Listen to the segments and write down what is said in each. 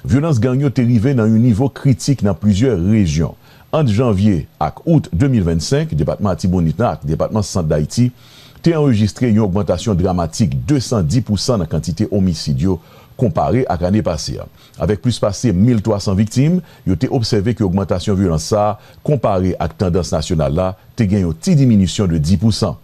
Vyolans gang yo te rive nan yon nivo kritik nan plizyè rejyon. Ant janvye ak out 2025, depatman Atibonit nan ak depatman Sant Dayiti te anrejistre yon ogmantasyon dramatik 210 pousan nan kantite omisid yo konpare ak ane pase a. Avèk plis pase 1,300 viktim, yo te obsève ke ogmantasyon vyolans sa a konpare ak tandans nasyonal la te gen yon ti diminisyon de 10 pousan.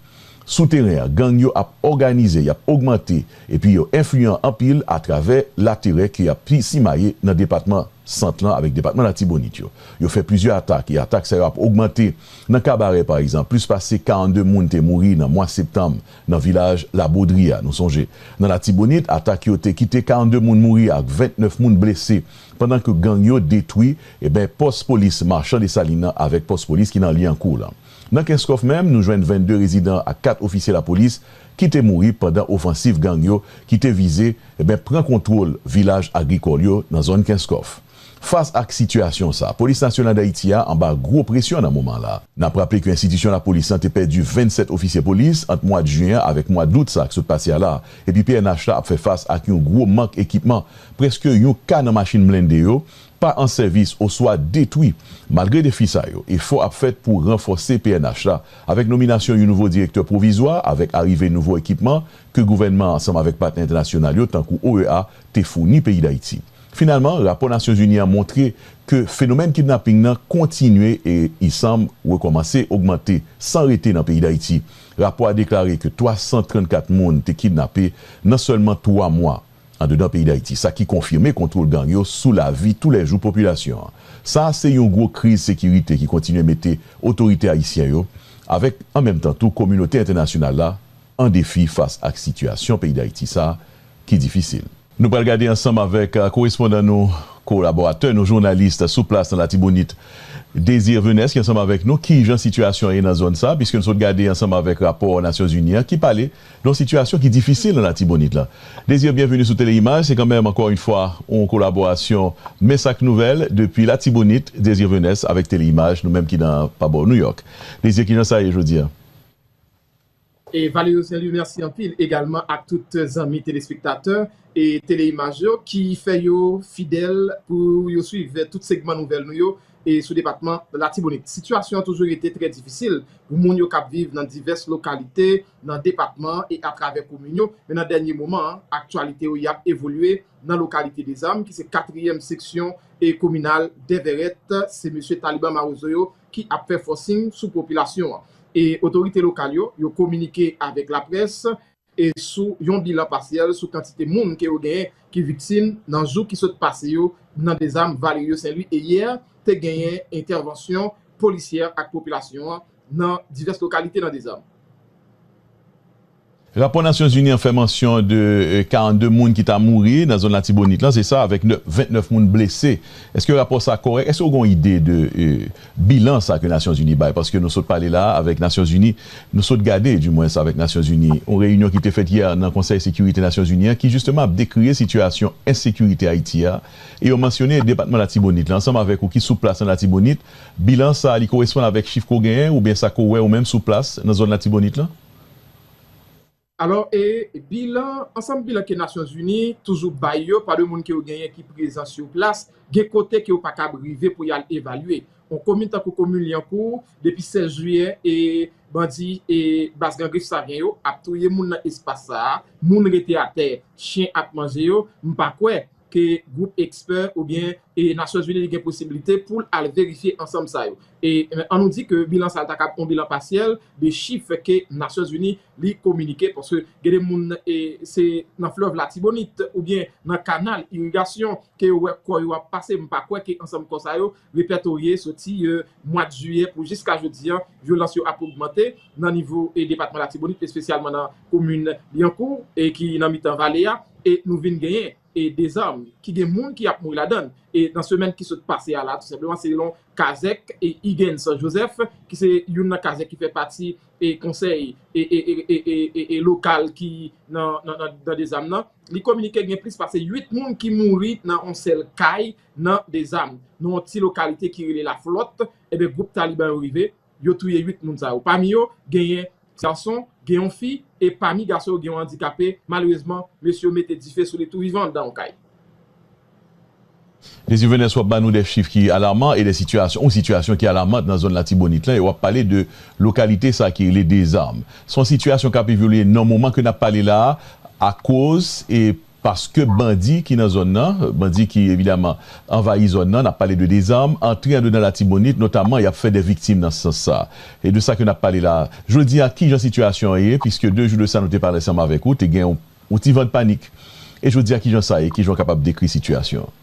Sou teren an, gang yo ap òganize, y ap ogmante epi yo enfliyan anpil atravè laterè ke y ap simaye nan depatman Sant lan avèk depatman Latibonit yo. Yo fè plizyè atak e atak sa yo ap ogmante. Nan Kabarè pa egzanp, plis pase 42 moun te mouri nan mwa septanm nan vilaj Labodri a. Nou sonje, nan Latibonit, atak yo te kite 42 moun mouri ak 29 moun blese pandan ke gang yo detwi e pòs polis Marchand Dessalines lan avèk pòs polis ki nan Lyankou lan. Nan Kenskòf menm, nou jwenn 22 rezidan ak 4 ofisye lapolis ki te mouri pandan ofansiv gang yo ki te vize eh pran kontwol vilaj agrikòl yo nan zòn Kenskòf. Fas ak sitiyasyon sa, Polis Nasyonal Dayiti a anba gwo presyon nan moman la. N ap raple ke enstitisyon lapolis lan te pèdi 27 ofisye polis ant mwad Juin an avèk mwa Dout sa k sot pase a la, epi pnh la ap fè fas ak yon gwo mank ekipman, prèske yon ka nan machin blende yo pa an sèvis oswa detwi. Malgre defi sa yo, efò ap fèt pou ranfòse pnh la avèk nominasyon yon nouvo direktè pwovizwa avèk arive nouvo ekipman ke gouvènman an ansanm avèk patnè entènasyonal yo tankou OEA te founi peyi Dayiti. Finalman, rapò Nasyonzini an montre ke fenomèn kidnaping nan kontinye e i sanm rekòmanse ogmante san rete nan peyi Dayiti. Rapò a deklare ke 334 moun te kidnape nan sèlman 3 mwa. Andedan peyi Dayiti, sa ki konfime kontwol gang yo sou lavi tou lè jou popilasyon an. Sa a se yon gwo kriz sekirite ki kontinye mete otorite ayisyen yo, avèk an menm tan tou kominote entènasyonal la, an defi fas ak sitiyasyon peyi Dayiti sa a ki difisil. Nou pral gade ansanm avèk korespondan nou, kolaboratè nou, jounalis sou plas nan Latibonit, Désir Venès ki ansanm avèk nou, kijan sitiyasyon an ye nan zòn sa a, piske nou sot gade ansanm avèk rapò Nasyonzini an ki pale Yon sitiyasyon ki difisil nan Latibonit la. Désir Bienvenu sou Tele Imaj se kanmenm ankò yn fwa yon kolaborasyon Men sa k Nouvèl depi Latibonit Désir Venès avèk Tele Imaj nou menm ki nan pa bò Nouyòk. Désir kijan sa ye jodi a? E Valerio Saint Louis mèsi anpil egalman ak tout zanmi telespektatè Tele Imaj yo ki fè yo fidèl pou yo swiv tout segman nouvèl nou yo sou depatman Latibonit. Sitiyasyon an toujou rete trè difisil pou moun yo k ap viv nan divès lokalite nan depatman an e atravè komin yo, men nan dènye moman an, aktyalite yo y ap evolye nan lokalite Dezam ki se katriyèm seksyon kominal Dèvèrèt, se mesye Taliban Mawozo yo ki ap fè fòsing sou popilasyon an e otorite lokal yo, yo kominike avèk laprès. e sou yon bilan pasyèl sou kantite moun ke yo genyen ki viktim nan jou ki sot pase yo nan dezam Valerio Saint-Louis e yè te genyen entèvansyon polisyè ak popilasyon an nan divès lokalite nan dezam. Rapò Nasyon Zini an fè mansyon de 42 moun ki ta mouri nan zòn Latibonit lan, se sa, avèk 29 moun blese. Eske rapò sa kòrèk? Eske ou gen yon ide de Bilan sa ke Nasyon Zini bay, paske nou sot pale la a avèk Nasyon Zini, nou sot gade di mwens avèk Nasyon Zini, yon reyinyon ki te fèt yè nan Konsèy Sekirite Nasyon Zini an ki jisteman ap dekrie sitiyasyon ensekirite Ayiti a, e yo mansyone Depatman Latibonit la ansanm avèk ou ki sou plas an Latibonit, bilan sa a li koresponn avèk chif ke w genyen oubyen sa ke w wè ou menm sou plas nan zòn Latibonit lan? Alò e bilan, ansanm bilan ke Nasyonzini toujou bay yo pa de moun ke yo genyen ki prezan sur plas, gen kote ke yo pa kab rive pou y'al evalye. On komin tankou komin Lyankou, depi 16 jiyè e bandi e baz Gran Grif Savyen yo ap touye moun nan espas sa a, moun rete atè, chyen ap manje yo, m'pa kwè. ke gwoup ekspè oubyen Nasyonzini gen posiblite pou l al verifye ansanm sa yo. E an nou di ke bilan sa ta kab on bilan pasyèl de chif ke Nasyonzini li kominike paske gen de moun se nan flèv latibonit oubyen nan kanal irigasyon ke yo wè kò yo ap pase m pa kwè ke ansanm kò sa yo repètorye soti mwad jiyè pou jiska jodi an, vyolans yo ap ogmante nan nivo depatman Latibonit espesyalman nan komin Lyankou ki nan mitan vale a e nou vin genyen dezam ki gen moun ki ap mouri ladann nan semèn ki sot pase a la tou senpleman selon kazèk Iguens Joseph ki se youn nan kazèk ki fè pati konsèy lokal ki nan dezam nan li kominike gen plis pase 8 moun ki mouri nan yon sèl kay Nan Dezam, nan yon ti lokalite ki rele Laflòt, enben gwoup Taliban yo rive, yo touye 8 moun sa yo. Pami yo, genyen gason, gen yon fi, e pami gason yo gen yon andikape, malerezman, mesye yo mete dife sou li tou vivan anndan yon kay. Désir Venance wap ba nou de chif ki alarman e de sitiyasyon, yon sitiyasyon ki alarmant nan zòn Latibonit lan e wap pale de lokalite sa ki rele Dezam. Se yon sitiyasyon kap evolye nan moman ke nap pale la a akoz e paske bandi ki nan zòn nan, bandi ki evidaman anvayi zòn nan, n ap pale de dezam, antre andedan Latibonit, notaman y ap fè dè viktim nan sans sa a. E de sa ke n ap pale la a. Jodi a, ki jan sitiyasyon an ye, piske de jou de sa nou te pale ansanm avèk ou, te gen yon ti van panik. E jodi a ki jan sa ye, ki jan w kapab dekri sitiyasyon an?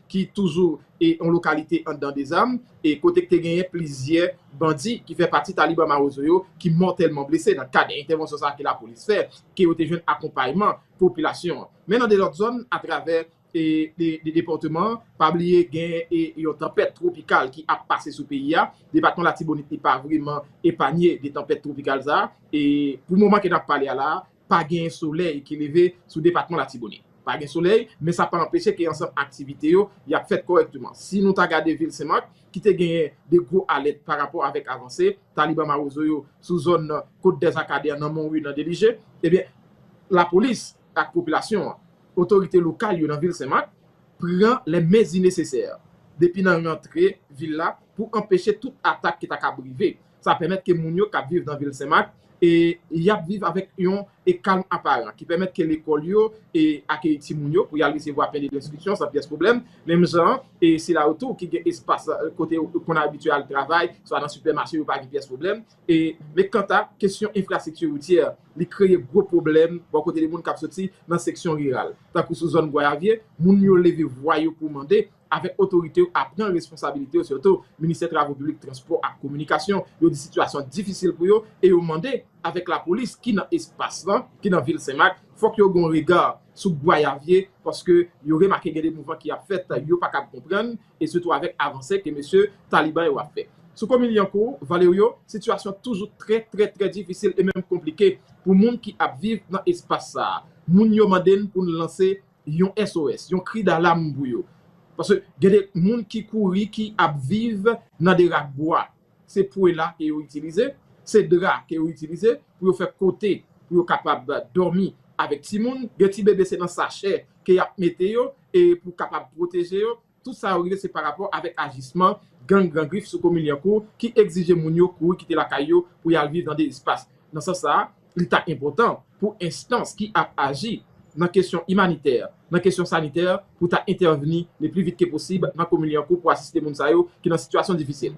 ki toujou e yon lokalite anndan Dezam, e kote k te genyen plizyè bandi ki fè pati Taliban Mawozo yo ki mòtèlman blese nan kad entèvansyon sa a ke lapolis fè, ke yo te jwenn akonpayman popilasyon an. Men nan de lòt zòn atravè e depatman an, pa bliye gen e yon tanpèt twopikal ki ap pase sou peyi a, depatman Latibonit li pa vreman epanye de tanpèt twopikal sa a, e pou moman ke n ap pale a la a, Pa gen solèy ki leve sou depatman Latibonit. Pa gen solèy, men sa pa anpeche ke ansanm aktivite yo y ap fèt kòrèkteman. Si nou ta gade vil Senmak, ki te genyen de gwo alèt pa rapò avèk avanse taliban mawozo yo sou zòn Kot dè Akadè, nan Monwi, nan Delije, ebyen, lapolis ak popilasyon an, otorite lokal yo nan vil Senmak, pran lè mezi nesesè depi nan rantre vil la pou anpeche tout atak ki ta kab rive. Sa pèmèt ke moun yo kap viv nan vil Senmak e yap viv avèk yon e kalm aparan ki pèmèt ke lekòl yo e akeyi timoun yo pou yal resevwa pen de lenstriksyon san pyès pwoblèm, menm jan an e sila yo tou ki gen espas kote yo konn abitye al travay swa nan sipèmache yo pa gen pyès pwoblèm e men kanta kesyon enfrastrikti woutyè li kreye gwo pwoblèm bò kote de moun kap soti nan seksyon riral tankou sou zòn Gwayavye moun yo leve vwa yo pou mande avèk otorite yo a pran responsabilite yo sitou ministè travo piblik, transpò ak kominikasyon yo di sitiyasyon difisil pou yo e yo mande avèk lapolis ki nan espas lan ki nan vil senmak fòk yo gon rega sou gwayavye paske yo remake gen de mouvman ki ap fèt yo pa kab konprann e sitou avèk avanse ke mesye taliban yo ap fè sou komin lyankou valerio sitiyasyon toujou trè trè trè difisil e menm konplike pou moun ki ap viv nan espas sa moun yo mande n pou n lanse. yon SOS, yon kri dalam pou yo. Paske gen de moun ki kouri ki ap viv nan de rak bwa. Se pwela ke yo itilize, se dra ke yo itilize pou yo fè kote pou yo kapab dòmi avèk timoun. Gen ti bebe se nan sachè ke y ap mete yo e pou kapab pwoteje yo. Tout sa yo rive se parapò avèk ajisman gang Gran Grif sou komin Lyankou ki egzije moun yo kouri kite lakay yo pou y al viv nan de espas. Nan sans sa a, li ta enpòtan pou enstans ki ap aji nan kesyon imanitè, nan kesyon sanitè pou ta entèvni le pli vit ke posib nan komin Lyankou pou asiste moun sa yo ki nan sitiyasyon difisil.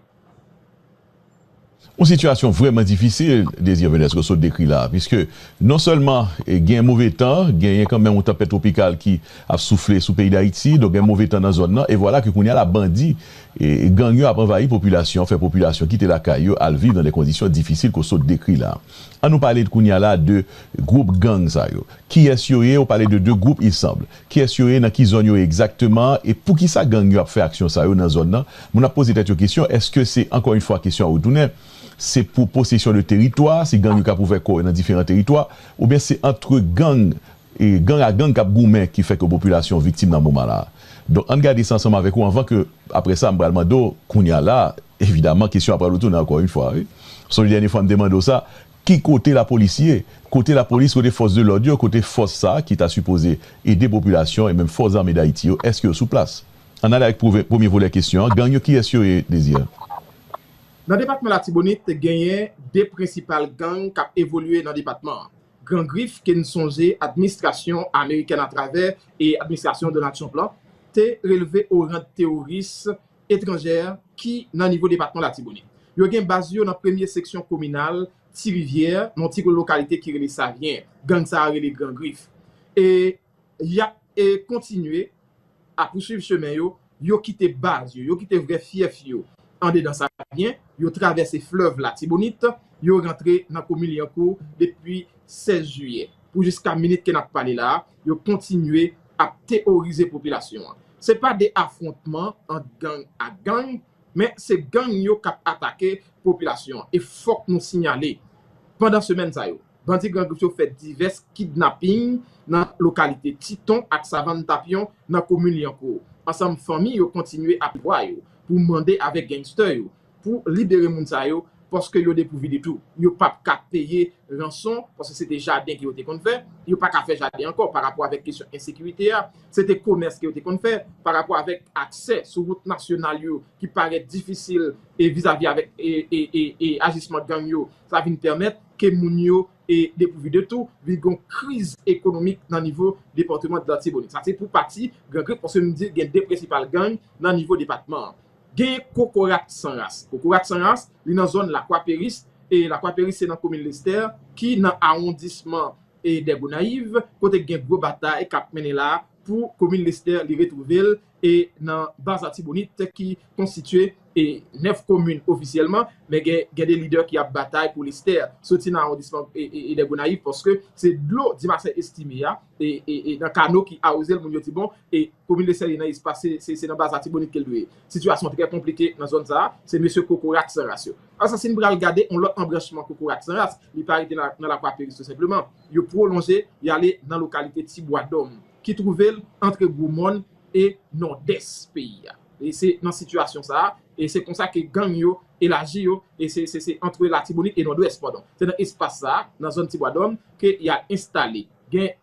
Yon sitiyasyon vrèman difisil Désir Venesco sot dekri la a, piske non sèlman gen move tan, genyen kanmenm yon tanpèt twopikal ki ap soufle sou peyi Dayiti, donk gen move tan nan zòn nan, e vwala ke kounye a la bandi, gang yo ap anvayi popilasyon an, fè popilasyon kite lakay yo al viv nan de kondisyon difisil ke w sot dekri la a. An nou pale kounye a la de gwoup gang sa yo. Kiyès yo ye? Ou pale de 2 gwoup, il semble. Kiyès yo ye, nan ki zòn yo ye egzakteman, e poukisa gang yo ap fè aksyon sa yo nan zòn nan? Moun ap poze tèt yo kesyon, èske se, ankò yon fwa kesyon an retounen, se pou posesyon de teritwa, se gang yo k ap ouvè kò yo nan diferan teritwa, oubyen se antre gang, gang a gang k ap goumen ki fè ke popilasyon an viktim nan moman la a? Donk ann gade sa ansanm avèk ou anvan ke, aprè sa m pral mande w, kounya la, evidaman kesyon an pral retounen ankò yon fwa wi. Sonje dènye fwa m te mande w sa, Ki kote la polis ye? Kote la polis, kote fòs de lòd yo, kote fòs sa ki ta sipoze ede popilasyon e menm fòs zame Dayiti yo, èske yo sou plas? Ann ale ak premye volè kesyon an, gang yo kiyès yo ye, Désir? Nan depatman Latibonit, genyen 2 prensipal gang k ap evolye nan depatman an. Gran Grif ke n sonje adminstrasyon amerikèn atravè e administrasyon Donald Trump lan te relve o rand teworis etranjè ki nan nivo depatman Latibonit. Yo gen baz yo nan premye seksyon kominal Ti Rivyè, nan yon ti lokalite ki rele Savyen, gang sa a rele Gran Grif. E y ap kontinye a pousuiv chemen yo, yo kite baz yo, yo kite vrè fyèf yo andedan Savyen, yo travèse flèv Latibonit, yo rantre nan komin Lyankou depi 16 jiyè. Pou jiska minit ke n ap pale la a, yo kontinye ap teworize popilasyon an. Se pa de afwontman ant gang ak gang, men se gang yo k ap atake popilasyon an. E fòk nou sinyale, pandan semèn sa yo, bandi Gran Grif yo fè divès kidnaping nan lokalite Titon ak Savann Tapyon nan komin Lyankou. Ansanm fanmi yo kontinye ap pran lwa yo pou mande avèk gangster yo pou libere moun sa yo paske yo depourvu de tou. Yo pap ka peye ranson paske se te jaden ke yo te konn fè, yo pa ka fè jaden ankò pa rapò avèk kesyon ensekirite a, se te komès ke yo te konn fè, pa rapò avèk aksè sou wout nasyonal yo ki parèt difisil e vizavi avèk e ajisman gang yo sa vin pèmèt ke moun yo e depourvu de tou vin gon kriz ekonomik nan nivo departement de l'Artibonite. Sa se pou pati Gran Grif paske nou di gen de prensipal gang nan nivo depatman an. Gen kokorat san ras. Kokorat san ras, li nan zòn Lakwa Peris. Lakwa Peris se nan komin Lestè ki nan awondisman Dè Gonayiv kote gen gwo batay k ap mennen la pou komin Lestè li retwouve l nan baz Atibonit ki konstitye 9 komin ofisyèlman men gen de lidè ki ap batay pou Lestè soti nan awondisman Dè Gonayiv paske se dlo Dimasè Estime a nan kano ki awoze l moun yo di bon e komin de sèye nan espase se nan baz latibonit ke l dwe ye sitiyasyon trè konplike nan zòn sa a se mesye kokorat san ras yo ansa si n pral gade yon lòt anbranchman kokorat san ras li pa rete nan lakwa peris tou senpleman yo pwolonje y ale nan lokalite ti bwa dòm ki twouve l antre gwo mòn e nòdès peyi a e se nan sitiyasyon sa a e se konsa ke gang yo elaji yo e se se se antre latibonit e nòdwès padon se nan espas sa a nan zòn ti bwa dòm ke y al enstale. Gen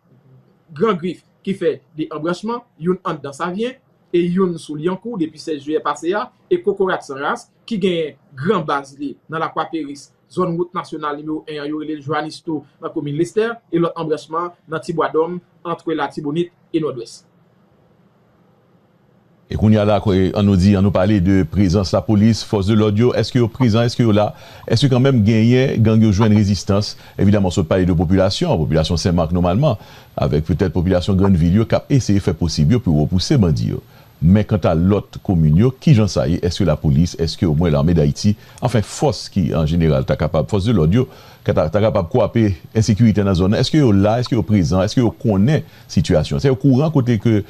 Gran Grif ki fè 2 anbranchman, youn ann Dan Savyen e youn sou Lyankou depi 16 jiyè pase a e Kokorat San Ras ki genyen gran baz li nan Lakwa Peris, zòn wout nasyonal nimewo 1 an yo rele l Joanistou nan komin Lestè e lòt anbranchman nan Tibwadòm antre Latibonit e Nòdwès. E kounya la an nou di an nou pale de prezans la polis fòs de lòd yo eske yo prezan eske yo la eske kanmenm genyen gang yo jwenn rezistans evidaman sot pale de popilasyon an popilasyon senmak nomalman avèk petèt popilasyon grann vil yo kap eseye fè posib yo pou repouse bandi yo men kanta lòt komin yo kijan sa ye eske la polis eske omwen lame dayiti anfen fòs ki an jeneral ta kapab fòs de lòd yo kata ta kapab kwape ensekirite nan zòn nan eske yo la eske yo prezan eske yo konnen sitiyasyon sa yo kouran kote ke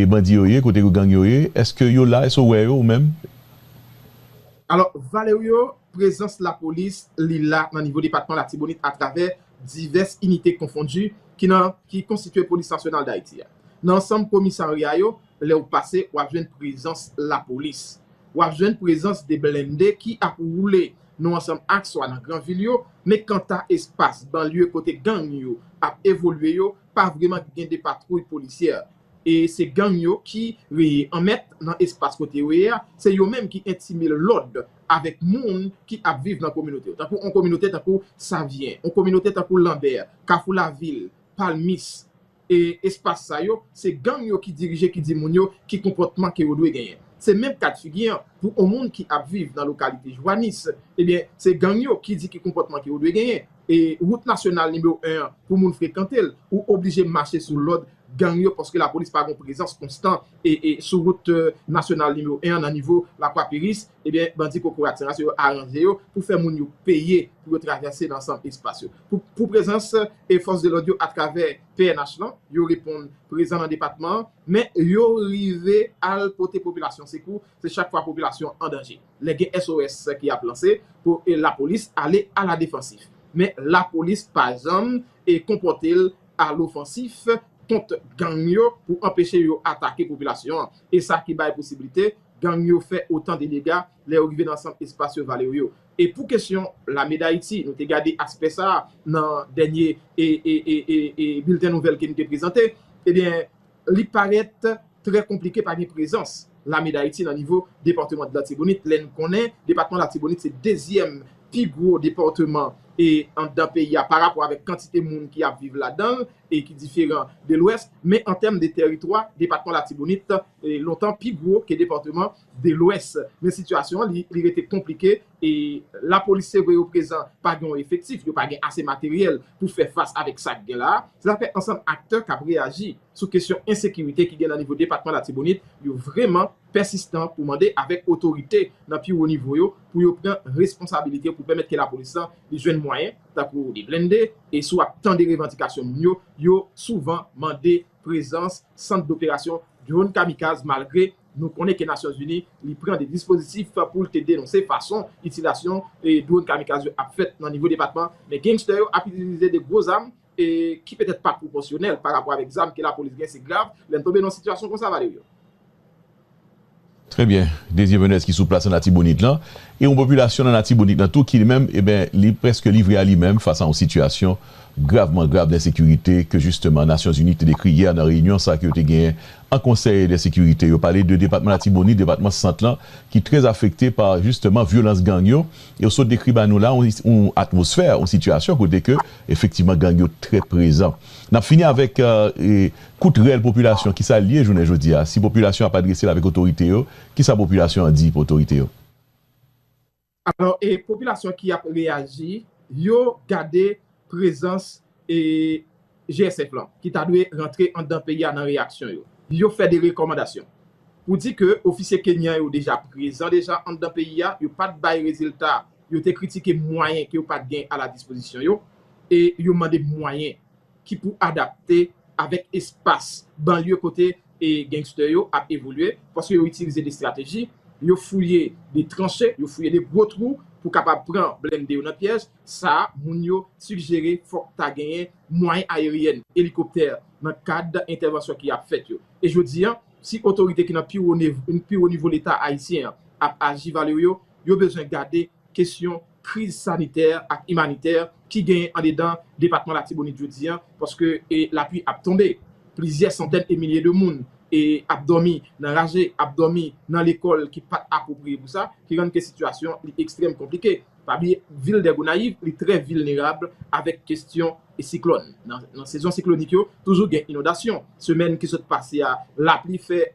bandi yo ye kote yo gang yo ye eske yo la eske ou wè yo ou menm. Alò Valerio prezans lapolis li la nan nivo depatman latibonit atravè divès inite konfondi ki nan ki konstitye polis nasyonal dayiti a nan ansanm komisarya yo lè ou pase wap jwenn prezans lapolis wap jwenn prezans de blende ki ap woule nou ansanm ak swa nan gran vil yo men kanta espas banlye kote gang yo ap evolye yo pa vreman gen de patwouy polisyè e se gang yo ki reye an mèt nan espas kote yo ye a, se yo menm ki entime lòd avèk moun ki ap viv nan kominote yo. Tankou on kominote tankou Savyen, on kominote tankou Lanbè, Kafou Lavil, Palmis e espas sa yo, se gang yo ki dirije ki di moun yo ki konpòtman ke yo dwe genyen. Se menm kad figi an pou on moun ki ap viv nan lokalite Jwanis, ebyen se gang yo ki di ki konpòtman ke yo dwe genyen. E wout nasyonal nimewo 1 an pou moun frekante l, ou oblije mache sou lòd gang yo paske lapolis pa gon prezans konstan sou wout nasyonal nimewo 1 an nan nivo Lakwa Peris, ebyen bandi kokorat sa yo aranje yo pou fè moun yo peye pou yo travèse nan ansanm espas yo. Pou prezans fòs de lòd yo atravè pnh lan, yo reponn prezan nan depatman an, men yo rive al pote popilasyon sekou, se chak fwa popilasyon an danje. Lè gen SOS ki ap lanse pou lapolis ale a la defansif. Men lapolis pa janm konpòte l a lofansif kont gang yo pou anpeche yo atake popilasyon an. E sa ki bay posiblite gang yo fè otan de dega lè yo rive nan sant espas yo vale yo. E pou kesyon Lame Dayiti, nou te gade aspè sa a nan dènye bilten nouvèl ke nou te prezante, ebyen Li parèt trè konplike pa gen prezans Lame Dayiti nan nivo departeman Latibonit lè n konnen depatman Latibonit se dezyèm pi gwo departeman anndan peyi a pa rapò avèk kantite moun ki ap viv ladan l e ki diferan de Lwès. Men an tèm de tèritwa, depatman Latibonit lontan pi gwo ke departeman de Lwès. Men sitiyasyon li rete konplike E lapolis se vre yo prezan pa gen yon efektif, yo pa gen ase materyèl pou fè fas avèk sa k gen la a, se zafè ansanm aktè k ap reyaji sou kesyon ensekirite ki gen nan nivo depatman Latibonit yo vreman pèsistan pou mande avèk otorite nan pi wo nivo yo pou yo pran responsabilite pou pèmèt ke lapolis lan li jwenn mwayen tankou li blende e si w ap tande revandikasyon moun yo yo souvan mande prezans sant doperasyon dronn kamikaz malgre nou konnen ke Nasyon Zini li pran de dispozitif pou l te denonse fason itilasyon dronn kamikaz yo ap fèt nan nivo depatman men gangster yo ap itilize de gwo zam ki petèt pa pwopòsyonèl pa rapò avèk zam ke lapolis gen se grav lè n tonbe nan yon sitiyasyon konsa Valerio. Trè byen, Desir Menez ki sou plas an Latibonit lan, e yon popilasyon nan Latibonit lan tou ki li menm e ben li prèske livre a li menm fas a yon sitiyasyon gravman grav densekirite ke jisteman Nasyonzini te dekri yè nan reyinyon sa ke yo te genyen an Konsèy de Sekirite. Yo pale de depatman Latibonit, depatman Sant lan ki trè afekte pa jisteman vyolans gang yo e yo sot dekri ba nou la yon atmosfè, yon sitiyasyon kote ke efektivman gang yo trè prezan. N ap fini avèk. Kout rèl popilasyon kisa liye jounen jodi a si popilasyon ap adrese l avèk otorite yo kisa popilasyon an di pou otorite yo. Alò e popilasyon ki ap reyaji yo gade prezans e GSF lan ki ta dwe rantre andan peyi a nan reyaksyon yo yo fè de rekòmandasyon pou di ke ofisye kenyan yo deja prezan deja andan peyi a yo pat bay rezilta yo te kritike mwayen ke yo pat gen a la dispozisyon yo e yo mande mwayen ki pou adapte avèk espas banlye kote gangster yo ap evolye paske yo itilize de strateji, yo fouye de tranche, yo fouye de gwo twou pou kapab pran blende yo nan pyèj sa a, moun yo sigjere fòk ta genyen mwayen ayeryèn, elikoptè nan kad entèvansyon ki ap fèt yo. E jodi a, si otorite ki nan pi wo nivo leta ayisyen an ap aji Valerio, yo bezwen gade kesyon kriz sanitè ak imanitè ki genyen andedan depatman Latibonit jodi an, paske lapui ap tonbe, plizyè santèn e milye de moun ap dòmi nan raje, ap dòmi nan lekòl ki pa t apwopriye pou sa, ki rann ke sitiyasyon li ekstrèm konplike. Pa bliye vil dè Gonayiv li trè vilnerab avèk kesyon siklòn. Nan sezon siklonik yo, toujou gen inondasyon. Semèn ki sot pase a, lapli fè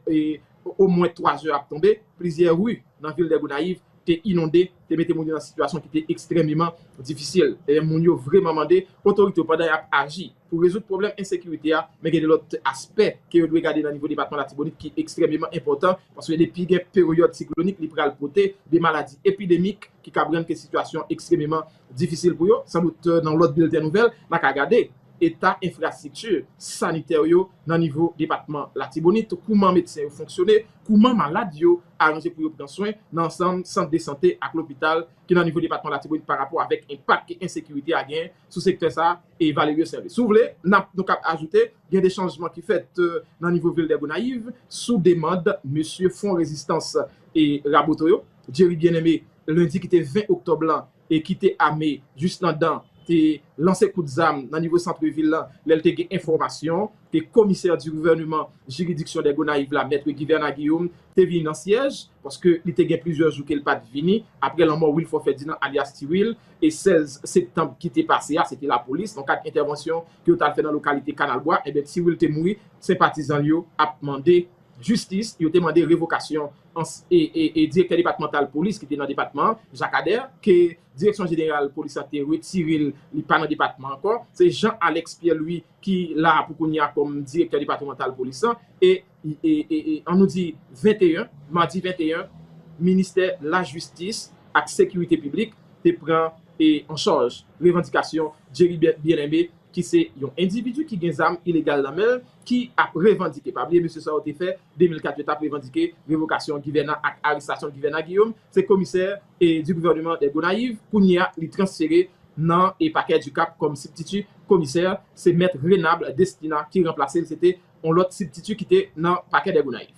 omwen 3 zè ap tonbe, plizyè ri nan vil dè Gonayiv te inonde, te mete moun yo nan sitiyasyon ki te ekstrèmeman difisil. Dayè moun yo vreman mande otorite yo pandan yap aji pou rezoud pwoblèm ensekirite a, men gen de lòt aspè ke yo dwe gade nan nivo depatman Latibonit ki ekstrèmeman enpòtan paske depi gen peryòd siklonik li pral pote de maladi epidemik ki kab rann ke sitiyasyon ekstrememan difisil pou yo. San dout nan lòt bilten nouvèl na ka gade eta enfrastrikti sanitè yo nan nivo depatman Latibonit, kouman medsen yo fonksyone, kouman malad yo Aranje pou yo pran swen nan ansanm sant de sante ak lopital ki nan nivo depatman Latibonit pa rapò avèk enpak ke ensekirite a gen sou sektè sa e Valerio Serlin. Si w vle, nap nou kap ajoute gen de chanjman ki fèt nan nivo vil dè Gonayiv sou demand mesye Fwon Rezistans e Raboto yo. Jerry Bien-Aimé, lendi ki te 20 oktòb lan, e ki te ame jis nan dan te lanse kout zam nan nivo santre vil lan lè l te gen enfòmasyon ke komisè di gouvèneman jiridiksyon dè Gonayiv la Mètre Guivernat Guillaume te vini nan syèj paske li te gen plizyè jou ke l pa t vini apre lanmò Wilfort Ferdinand alyas Ti Wil e 16 septanb ki te pase a se te lapolis nan kad entèvansyon ke yo t al fè nan lokalite Kanal Bwa enben Ti Wil te mouri senpatizan l yo ap mande. Jistis, yo te mande revokasyon ans e direktè depatmantal polis ki te nan depatman an, Jacques Ader, ke direksyon jeneral polis la te retire l, li pa nan depatman an ankò. Se Jean Alex Pierre Louis ki la pou kounye a kòm direktè depatmantal polis lan e an nou di 21, madi 21, ministè lajistis ak sekirite piblik te pran an chaj revandikasyon Jerry Bien-Aimé ki se yon endividi ki gen zam ilegal nan men l ki ap revandike, pa bliye mesye sa yo te fè 2004 yo tap revandike revokasyon Guyvernan ak arestasyon Guyvernan Guillaume, se komisè du gouvernement des Gonaïves, kounye a li transfere nan pakè du Cap kòm sibtiti komisè, se mèt Renable Destina ki ranplase l, se te yon lòt sibtiti ki te nan pakè des Gonaïves.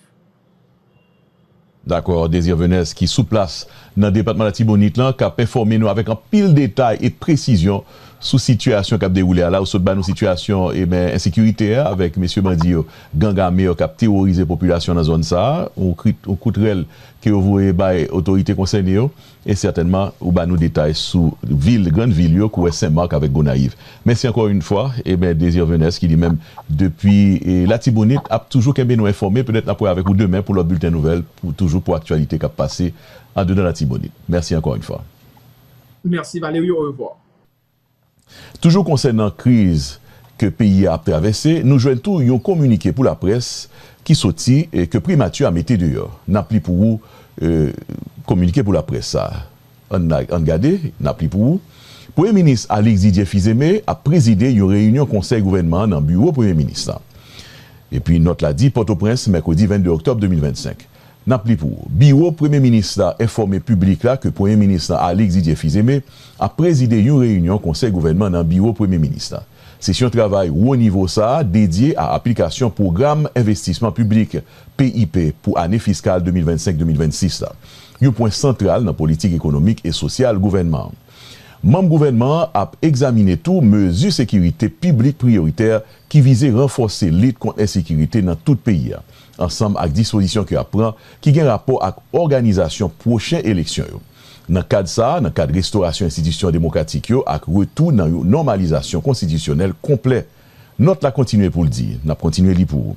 Dakò Désir Venès ki sou plas nan depatman Latibonit lan kap enfòme nou avèk anpil detay e presizyon sou sitiyasyon kap dewoule a la ou sot ba nou sitiyasyon eben ensekirite a avèk mesye bandi yo gang ame yo kap teworize popilasyon nan zòn sa ou kout rèl ke yo voye bay otorite konsène yo E sètènman, ou ba nou detay sou vil, grann vil yo, kouwè Sen Mak avèk Gonayiv. Mèsi ankò yn fwa, e mè Désir Venès ki li menm depi Latibonit ap toujou kenbe nou enfòme, petèt nap wè avèk ou demen pou lòt bilten nouvèl pou toujou pou aktyalite kap pase andedan Latibonit. Mèsi ankò yn fwa. Merci Valery au revoir. Toujou konsènan kriz ke peyi a ap travèse, nou jwenn tou yon kominike pou laprès ki soti e ke Primati a mete deyò. N ap li pou ou kominike pou laprès sa a. Ann gade, n ap li pou ou, Premye Minis Alix Didier Fils-Aimé ap prezide yon reyinyon Konsèy Gouvènman an nan biwo Premye Minis lan. Epi nòt la di, Pòtoprens, mèkredi 22 oktòb 2025. N ap li pou ou. Biwo Premye Minis la enfòme piblik la ke Premye Minis lan Alix Didier Fils-Aimé ap prezide yon reyinyon Konsèy Gouvènman nan Biwo Premye Minis la. Sesyon travay wo nivo sa a dedye a aplikasyon Pwogram Envestisman Piblik, PIP, pou ane fiskal 2025-2026 la, yon pwen santral nan politik ekonomik e sosyal gouvènman an. Manm gouvènman an ap egzamine tou mezi sekirite piblik priyoritè ki vize ranfòse lit kont ensekirite nan tout peyi a, ansanm ak dispozisyon ke ap pran ki gen rapò ak òganizasyon pwochen eleksyon yo. Nan kad sa a, nan kad restorasyon enstitisyon demokratik yo ak retou nan yon nòmalizasyon konstitisyonèl konplè, nòt la kontinye pou l di, n ap kontinye li pou.